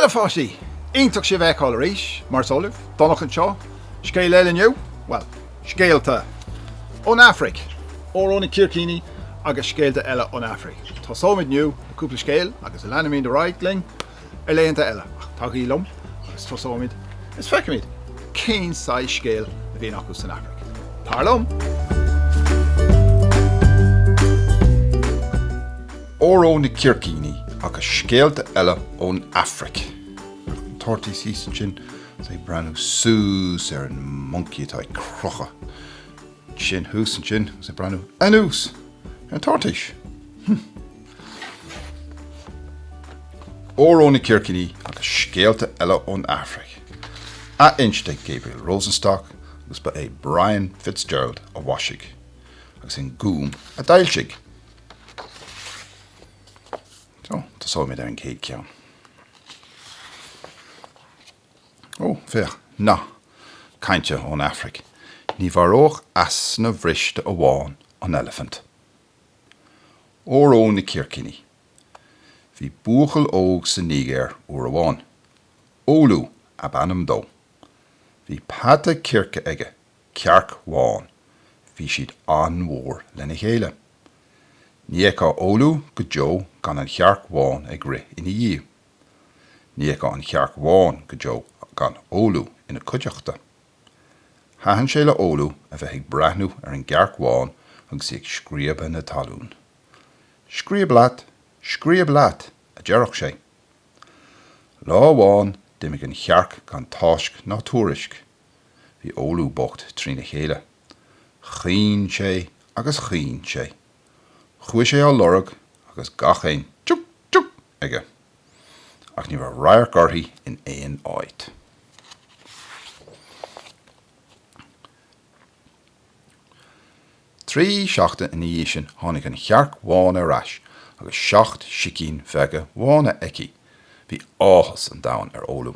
Bhuel, a pháistí, iontach sibh a fheiceáil arís, mar is eol libh, Donncha anseo, scéal eile inniu, bhuel, scéalta ón Afraic, Óró na Circíní agus scéalta eile ón Afraic, tosóimid inniu le cúpla scéal agus leanfaimid ar aghaidh linn. ar laethanta eile ach tagaigí liom agus tosóimid is feicimid cén saghas scéil a bhíonn acu san Afraic. Tar liom! Óró na Circíní agus scéalta eile ón Afraic. Toirtís ansin is é ag breathnú suas ar an moncaí atá ag crochadh. Sin thuas ansin agus ag breathnú anuas ar an toirtís. Hum. Óró na Circíní agus scéalta eile ón Afraic. Athinste ag Gabriel Rosenstock agus ba é Brian Fitzgerald a mhaisigh agus an Gúm a d'fhoilsigh. So, tosóimid ar an gcéad ceann. Ó, féach, nath cainte ón Afraic, Ní mharódh easna bhriste amháin an eilifint. Óró na circíní! Bhí buachaill óg sa Nígéir uair amháin. Ólú ab ainm dó. Bhí peata circe aige, cearc bhán. Bhí siad an-mhór lena chéile. Ní fheicfeá Ólú go deo gan an chearc bhán ag rith ina dhiaidh. Ní fheicfeá an chearc bhán go deo gan Ólú ina cuideachta. Thaitin sé le Ólú a bheith ag breathnú ar an gcearc bhán agus í ag scríobadh na talún. Scríob leat! Scríob leat! a deireadh sé. Lá amháin d'imigh an chearc gan táisc ná tuairisc. Bhí Ólú bocht trína chéile. Chaoin sé agus chaoin sé. Chuaigh sé á lorg agus gach aon, Tiúc! Tiúc! aige, ach ní raibh radharc uirthi in aon áit. Trí seachtaine ina dhiaidh sin tháinig an chearc bhán ar ais agus seacht sicín bheaga bhána aici. Bhí áthas an domhain ar Ólú.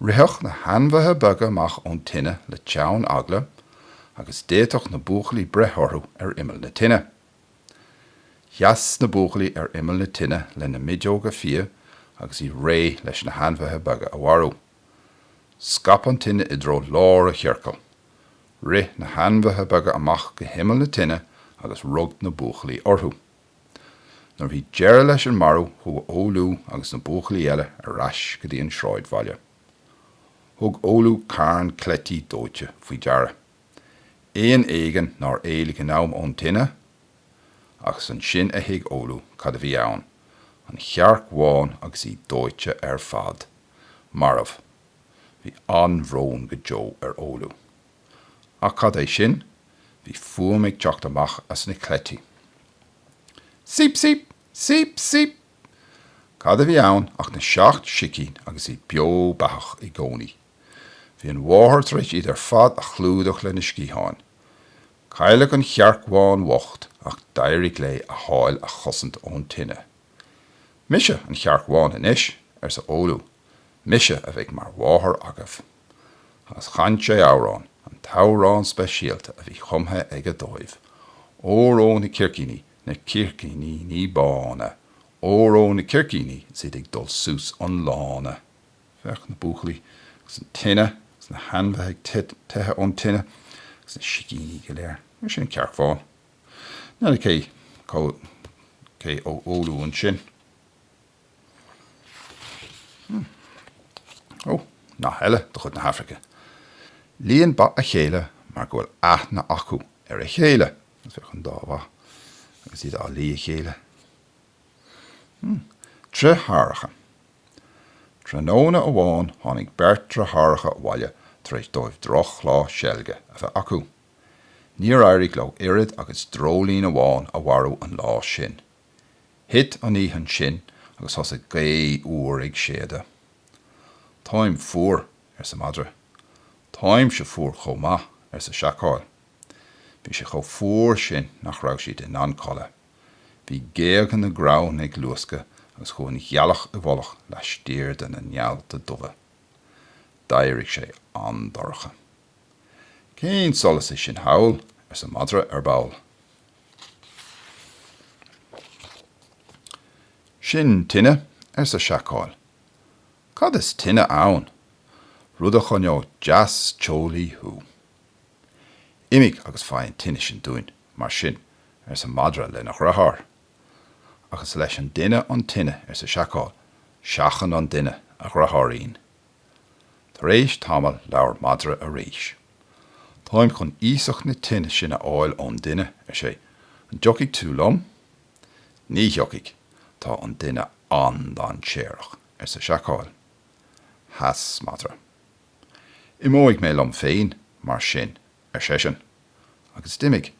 Ritheadh na hainmhithe beaga amach ón tine le teann eagla agus d'fhéadfadh na buachaillí breith orthu ar imeall na tine. Sheas na buachaillí ar imeall na tine lena miodóga fiaigh agus iad réidh leis na hainmhithe beaga a mharú. Scaip an tine i dtreo lár a' chiorcail. Rith na hainmhithe beaga amach go himeall na tine agus rug na buachaillí orthu. Nuair a bhí deireadh leis an marú chuaigh Ólú agus na buachaillí eile ar ais go dtí an sráidbhaile. Thug Ólú carn cleití dóite faoi deara, éan éigin nár éalaigh in am ón tine? agus ansin a thuig Ólú cad a bhí ann, an chearc bhán agus í dóite ar fad. Marbh. Bhí an-bhrón go deo ar Ólú. Ach cad é sin? Bhí fuaim ag teacht amach as na cleití. Síp síp! Síp síp! Cad a bhí ann ach na seacht sicín agus iad beo beathach i gcónaí. Bhí an mháthair tar éis iad ar fad a chlúdach lena sciatháin. Cailleadh an chearc bhán bhocht ach d'éirigh léi a hál a chosaint ón tine. Mise an chearc bhán anois, arsa Ólú. Mise a bheidh mar mháthair agaibh. Agus chan sé amhrán, an t-amhrán speisialta a bhí cumtha aige dóibh, Óró na Circíní, na Circíníní bána, Óró na Circíní is iad ag dul suas an lána. Féach na buachaillí agus an tine agus na hainmhithe ag teitheadh ón tine agus na sicíní go léir. Mar sin an cearc bhán. Níl fhios cé hé Ólú ansin. Hmm. Ó, nath eile de chuid na hAifrice. Líonn ba a chéile mar go bhfuil aithne acu ar a chéile. Agus féach an dá bhó agus iad á lí a chéile. Hmm. Driotháracha. Tráthnóna amháin tháinig beirt driotháracha abhaile tar éis dóibh drochlá seilge a bheith acu. Níor éirigh leo oiread agus dreoilín amháin a mharú an lá sin. Thit an oíche ansin agus thosaigh gaoth fhuar ag séideadh. Táim fuar, arsa madra. Táimse fuar chomh maith, arsa seacál. Bhí sé chomh fuar sin nach raibh siad in ann codladh. Bhí géaga na gcrann ag luascadh agus chuaigh an ghealach i bhfolach laistiar de na néalta dubha. D'éirigh sé an-dorcha. Cén solas é sin thall? arsa madra ar ball. Sin tine, arsa Seacál. Cad is tine ann? Rud a choinneodh deas teolaí thú. Imigh agus faigh an tine sin dúinn, mar sin, arsa Madra lena dhriotháir. Ach is leis an duine an tine, arsa Seacál, seachain an duine, a dhriotháirín. Tar éis tamaill labhair madra arís. Táim chun iasacht na tine sin a fháil ón duine, ar sé. An dtiocfaidh tú liom? Ní thiocfaidh, tá an duine an-dainséarach, arsa Seacál. Sheas madra. Imeoidh mé liom féin, mar sin, ar seisean. Agus d'imigh.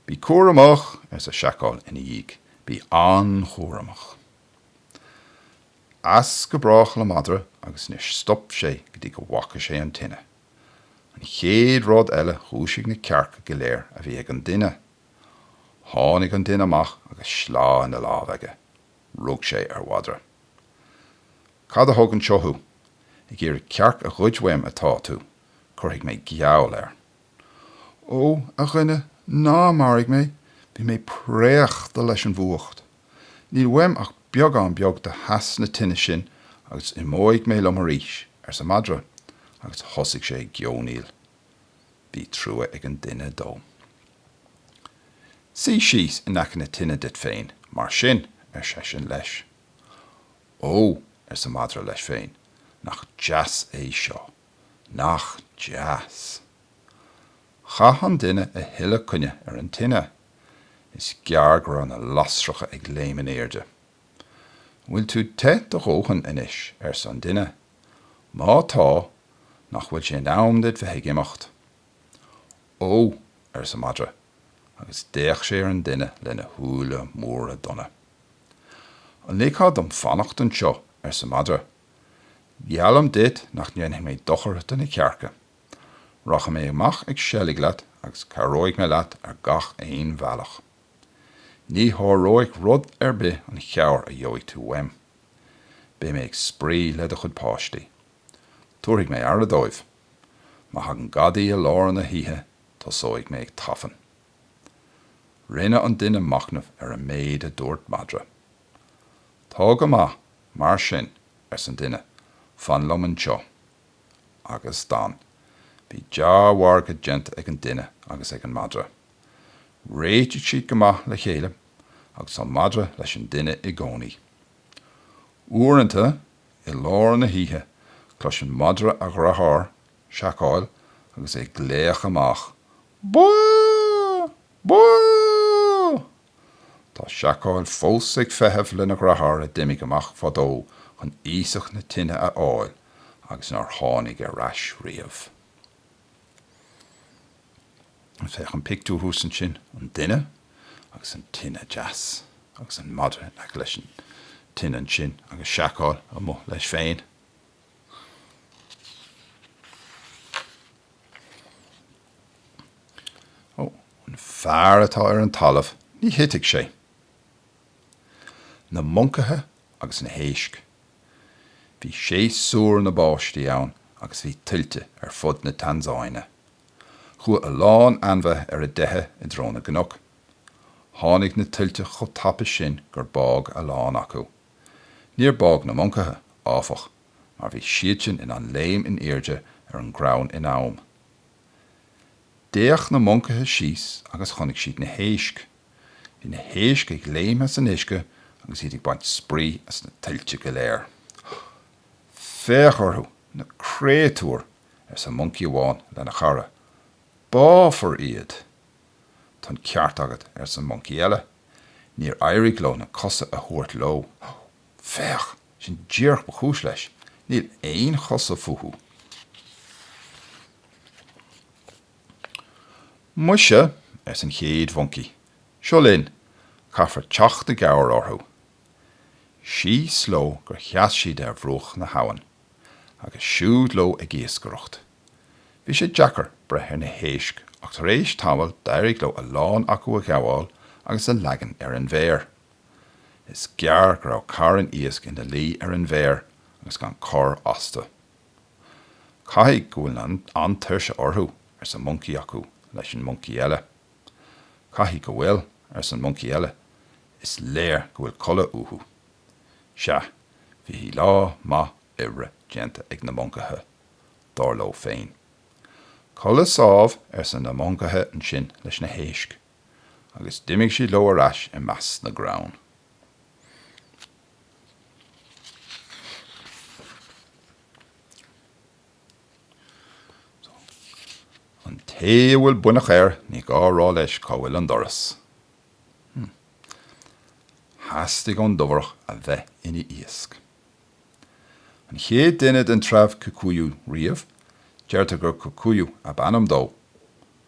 Bí cúramach! arsa Seacál ina dhiaidh. Bí an-chúramach! As go brách le madra agus níor stop sé go dtí go bhfaca sé an tine. An chéad rud eile dhúisigh na cearca go léir a bhí ag an duine. Tháinig an duine amach agus sleá ina lámh aige. Rug sé ar mhadra. Cad a thug anseo thú? Ag iarraidh cearc a ghoid uaim atá tú. Cuirfidh mé geall air. Ó, a dhuine, ná maraigh mé, bhí mé préachta leis an bhfuacht. Níl uaim ach beagán beag de theas na tine sin agus imeoidh mé liom arís, arsa madra, agus thosaigh sé ag geonaíl. Bhí trua ag an duine dó. Suigh síos in aice na tine duit féin, mar sin, ar seisean leis. Ó, arsa madra leis féin, nach deas é seo! Nach deas! Chaith an duine a thuilleadh connaidh ar an tine. Is gearr go raibh na lasracha ag léim in airde. An bhfuil tú te do dhóthain anois? arsa an duine. Má tá, nach bhfuil sé in am duit bheith ag imeacht? Ó, arsa madra, agus d'fhéach sé ar an duine lena shúile móra donna. An ligfeá dom fanacht anseo? arsa madra. Geallaim duit nach ndéanfaidh mé dochar do na cearca. Rachaidh mé amach ag seilg leat agus cabhróidh mé leat ar gach aon bhealach. Ní sháróidh rud ar bith an chabhair a gheobhaidh tú uaim. Beidh mé ag spraoi le do chuid páistí. Tabharfaidh mé aire dóibh. Má thagann gadaí i lár na hoíche tosóidh mé ag tafann. Rinne an duine machnamh ar an méid a dúirt madra. Tá go maith mar sin, arsa an duine fan liom anseo. Agus d'fhan. Bhí dea-mhargadh déanta ag an duine agus ag an madra. Réitigh siad go maith le chéile agus an madra leis an duine i gcónaí. Uaireanta, i lár na hoíche, cloiseann madra a dheartháir Seacál agus é ag glaoch amach, Bá! Bá! Tá seacáil fós ag feitheamh lena dhreatháir a d'imigh amach fadó chun iasacht na tine a fháil agus nár tháinig ar ais riamh. Féach an pictiúr thuas ansin, an duine agus an tine deas agus an madra in aice leis an tine ansin agus seacáil amuigh leis féin. Ó, an fear atá ar an talamh, ní thitfidh sé. Na moncaithe agus na héisc. Bhí séasúr na báistí ann agus bhí tuilte ar fud na Tansáine. Chuaigh a lán ainmhithe ar a dteitheadh i dtreo na gcnoc. Tháinig na tuilte chomh tapa sin gur bádh a lán acu. Níor bádh na moncaithe, áfach, mar bhí siadsan in ann léim in airde ar an gcrann in am. D'fhéach na moncaithe síos agus chonaic siad na héisc. Bhí na héisc ag léim as an uisce agus iad ag baint spraoi as na tuilte go léir. Féach orthu, na créatúir, arsa moncaí amháin lena chara. Báfar iad! Tá an ceart agat, arsa an moncaí eile. Níor éirigh leo na cosa a thabhairt leo. Féach! Sin díreach ba chúis leis. Níl aon chosa fúthu. Muise, arsa an chéad mhoncaí, seo linn, caithfear teacht i gcabhair orthu. Síos leo gur sheas siad ar bhruach na habhann, agus siúd leo ag iascaireacht. Bhí sé deacair breith ar na héisc ach tar éis tamaill d'éirigh leo a lán acu a ghabháil agus a leagan ar an bhféar. Is gearr go raibh carn iasc ina luí ar an bhféar agus gan cor astu. Caithfidh go bhfuil an-tuirse orthu, arsa moncaí acu leis an moncaí eile. Caithfidh go bhfuil, arsa an moncaí eile, is léir go bhfuil codladh uathu. Sea, bhí lá maith oibre déanta ag na moncaithe, dar leo féin. Codladh sámh, arsa na moncaithe ansin leis na héisc. agus d'imigh siad leo ar ais i measc na gcrann. An té a bhfuil buinneach air, ní gá a rá leis cá bhfuil an doras. Theastaigh ón dobhrán a bheith ina iasc. An chéad duine den treabh Kikuyu riamh, deirtear gur Kikuyu ab ainm dó.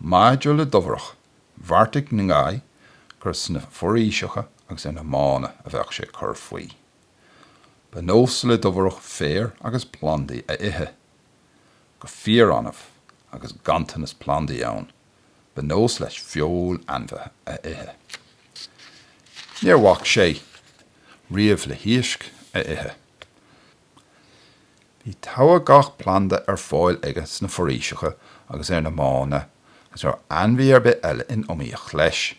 Maidir le Dobhareach, bheartaigh Ngai gur sna foraoiseacha agus ar na mánna a bheadh sé ag cur faoi. Ba nós le Dobhareach féar agus plandaí a ithe. Go fíor-annamh, agus ganntanas plandaí ann, ba nós leis feoil ainmhithe a ithe. Níor bhac sé riamh le hiasc a ithe. Bhí togha gach planda ar fáil aige sna foraoiseacha agus ar na mánna agus ní raibh ainmhí ar bith eile in iomaíocht leis.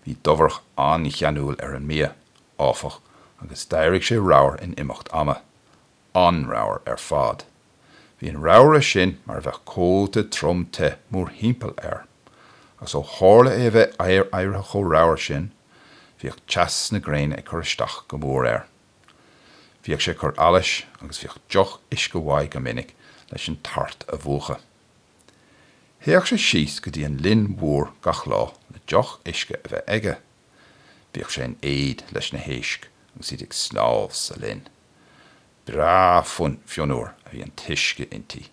Bhí Dobhareach an-cheanúil ar an mbia, áfach, agus d'éirigh sé ramhar in imeacht ama. An-ramhar ar fad. Bhí an ramhaire sin mar a bheadh cóta trom te mórthimpeall air, agus ó tharla é a bheith éirithe chomh ramhar sin, bhíodh teas na gréine ag cur isteach go mór air. Bhíodh sé ag cur allais agus bhíodh deoch uisce uaidh go minic leis an tart a mhúchadh. Théadh sé síos go dtí an linn mhór gach lá le deoch uisce a bheith aige. Bhíodh sé in éad leis na héisc agus iad ag snámh sa linn. Breá fionnuar a bhí an t-uisce inti.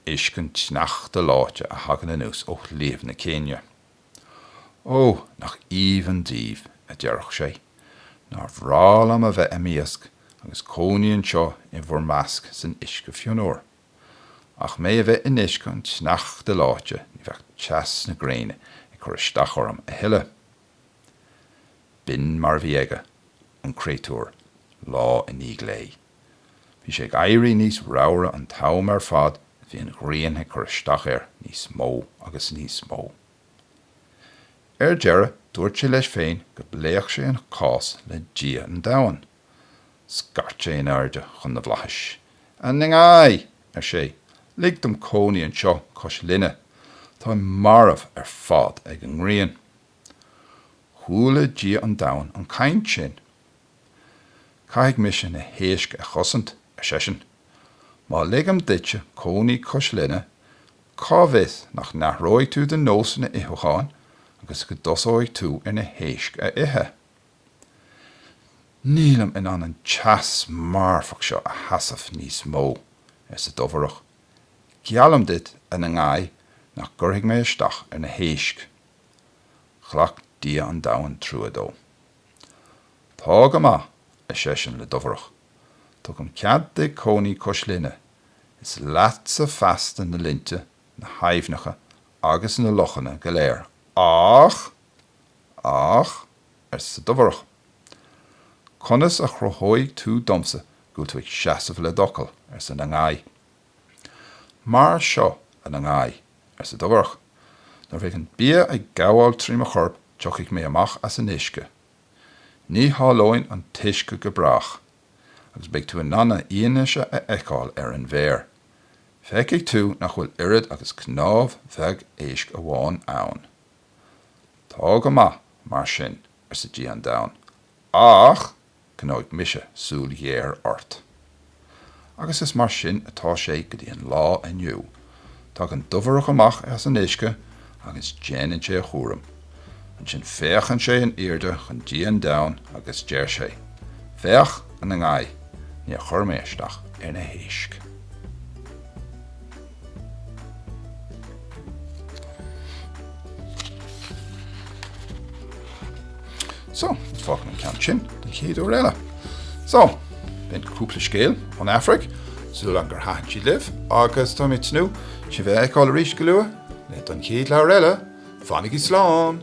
Uisce an tsneachta leáite a thagann anuas ó Shliabh na Céinia. Ó, nach aoibhinn daoibh, a deireadh sé. Nár bhreá liom a bheith i m'iasc agus cónaí anseo i bhur measc san uisce fionnuar. Ach mé a bheith in uisce an tsneachta leáite ní bheadh teas na gréine ag cur isteach orm a thuilleadh. B'in mar a bhí aige, an créatúr, lá i ndiaidh lae. Bhí sé ag éirí níos ramhra an t-am ar fad a bhí an ghrian ag cur isteach air níos mó agus níos mó. Ar deireadh dúirt sé leis féin go bpléadh sé an cás le Dia an Domhain. Scairt sé in airde chun na bhflaithis. 'A Ngai! ar sé, 'lig dom cónaí anseo cois linne. Táim marbh ar fad ag an ngrian. Chuala Dia an Domhain an chaint sin. Caithfidh mise na héisc a chosaint, ar seisean. Má ligim duitse cónaí cois linne, cá bhfios nach n-athróidh tú do nósanna itheacháin agus go dtosóidh tú ar na héisc a ithe? Nílim in ann an teas marfach seo a sheasamh níos mó, arsa Dobhareach. Geallaim duit, a Ngai, nach gcuirfidh mé isteach ar na héisc. Ghlac Dia an Domhain trua dó. Tá go maith, ar seisean le Dobhareach, tugaim cead duit cónaí cois linne, is leatsa feasta na linnte, na haibhneacha agus na lochanna go léir. Ach! Ach! arsa Dobhareach. Conas a chruthóidh tú domsa go bhfuil tú ag seasamh le d'fhocal? arsa Ngai. Mar seo a Ngai, arsa Dobhareach, nuair bheidh an bia ag gabháil trí mo chorp tiocfaidh mé amach as an uisce. Ní shalóinn an t-uisce go brách agus beidh tú in ann a fhianaise a fheiceáil ar an bhféar. Feicfidh tú nach bhfuil oiread agus cnámh bheag éisc amháin ann. Tá go maith, mar sin, arsa Dia an domhain, ach coinneoidh mise súil ghéar ort. Agus is mar sin atá sé go dtí an lá inniu. Tagann dobhareach amach as an uisce agus déanann sé a chúram. Ansin féachann sé in airde chun Dia an domhain agus deir sé, 'Féach, a Ngai, níor chuir mé isteach ar na héisc. So, fágann an ceann sin don chéad uair eile. So, b'in cúpla scéal ón Afraic, súil agam gur thaitin siad libh, agus tá mé ag tnúth sibh a fheiceáil arís go luath le don chéad leabhar eile Fanaigí slán!